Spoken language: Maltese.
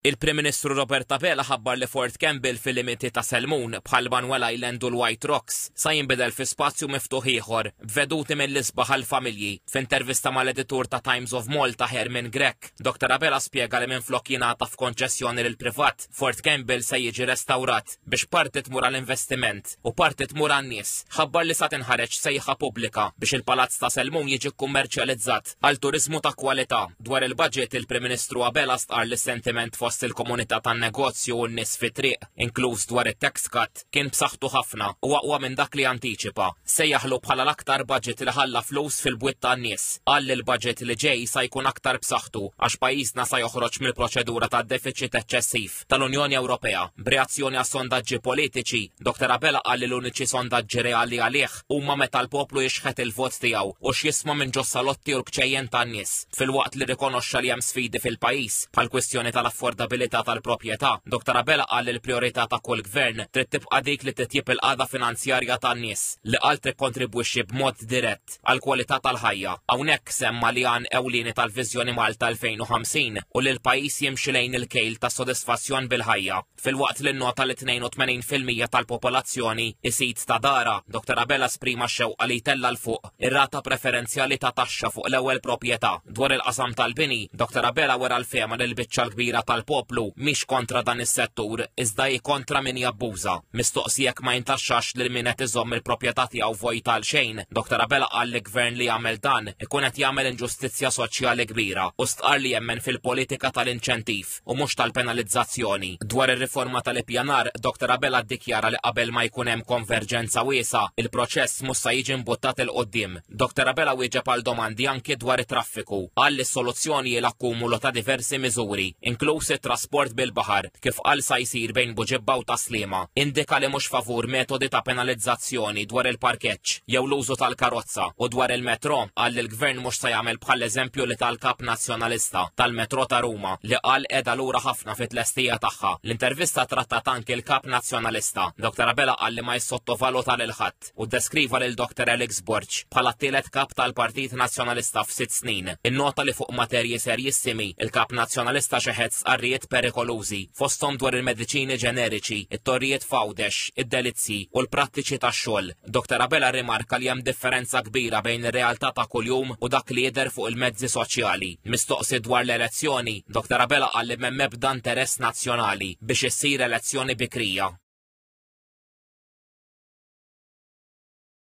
Il-Prim Ministru Robert Abela ħabbar li Fort Campbell fil-limiti ta' Selmun, bħal Manuel Island u l-White Rocks, sa jinbidel fi spazju miftuħ ieħor, b'veduti mill-isbaħ għall-familji. F'intervista mal-editur ta' Times of Malta Herman Grech, Dr Abela spjega li minflok jingħata f'konċessjoni lill-privat, Fort Campbell se jiġi restawrat. biex parti tmur għal investiment u parti tmur għan-nies, ħabbar li sa tinħareġ sejħa pubblika biex il-Palazz ta' Selmun jiġi kkummerċjalizzat għal turiżmu ta' kwalità. Dwar il-budget, il-Prim Ministru Abela stqarr li s-sentiment fost il-komunità tan-negozju u n-nies fit-triq, inkluż dwar it-tax cut, kien b'saħħtu ħafna u aqwa minn dak li antiċipa. Sejjaħlu bħala l-aktar budget li ħalla flus fil-bwiet tan-nies. Qal li l-budget li ġej sa jkun aktar b'saħħtu għax pajjiżna sa joħroġ mill-proċedura tad-defiċit eċċessiv. tal-Kuntratt tal-Unjoni Ewropea. B'reazzjoni għas-sondaġġi politiċi, Dr Abela qal li l-uniċi sondaġġi reali għalih huma meta l-poplu jixħet il-vot tiegħu u x'jisma' minn ġo salotti u l-kċejjen tan-nies. Filwaqt li rrikonoxxa li hemm sfidi fil-pajjiż, bħall-kwistjoni tal-affordabilità tal-proprjetà, Dr Abela qal li l-prijorità ta' kull gvern trid tibqa' dik li titjib il-qagħda finanzjarja tan-nies, li qal tikkontribwixxi b'mod dirett. għall-kwalità tal-ħajja. Hawnhekk semma li għan ewlieni tal-Viżjoni Malta 2050 hu li l-pajjiż jimxi lejn il-kejl ta' sodisfazzjon bil-ħajja, filwaqt li nnota li 82 fil-mija tal-popolazzjoni isid ta' darha, Dottor Abela esprima x-xewqa li jtella' 'l fuq ir-rata preferenzjali ta' taxxa fuq l-ewwel proprjetà. Dwar il-qasam tal-bini, Dr Abela wera l-fehma li l-biċċa l-kbira tal-poplu mhix kontra dan is-settur iżda hi kontra min jabbuża. Mistoqsi jekk ma jintaxxax lil min qed iżomm il-proprjetà tiegħu vojta għal xejn, Dr Abela qal li gvern li jagħmel dan ikun qed jagħmel inġustizzja soċjali kbira u stqarr li jemmen fil-politika tal-inċentiv. u mhux tal-penalizzazzjoni. Dwar ir-riforma tal-ippjanar, Doctor Abela ddikjara li qabel ma jkun hemm konverġenza wiesgħa, il-proċess mhux sa jiġi mbuttat 'il quddiem. Doctor Abela wieġeb għal domandi anki dwar it-traffiku. Qal li s-soluzzjoni hi l-akkumulu ta' diversi miżuri, inkluż it-trasport bil-baħar, kif qal sa jsir bejn Buġibba u Tas-Sliema. Indika li mhux favur metodi ta' penalizzazzjoni dwar il-parkeġġ jew l-użu tal-karozza u dwar il-metro qal li Gvern mhux se jagħmel bħall-eżempju li ta l-Kap Nazzjonalista tal-Metro ta' Ruma li qal qiegħda lura ħafna fi tlestija tagħha. L-intervista trattat anki l-Kap Nazzjonalista. Dr Abela qal li ma jissottovaluta lil ħadd u ddeskriva lil Dr Alex Borg bħala t-tielet Kap tal-Partit Nazzjonalista f'sitt snin. Innota li fuq materji serjissimi il-Kap Nazzjonalista xeħed sqarrijiet perikolużi fosthom dwar il-mediċini ġeneriċi, it-torrijiet f'Għawdex, id-delizzji u l-prattiċi tax-xogħol. Doctor Abela rrimarka li hemm differenza kbira bejn ir-realtà ta' kuljum u dak li jidher fuq il-mezzi soċjali. Mistoqsi dwar l-elezzjoni, Doctor Abela qal li m'hemm ebda interess nazzjonali biex issir elezzjoni bikrija.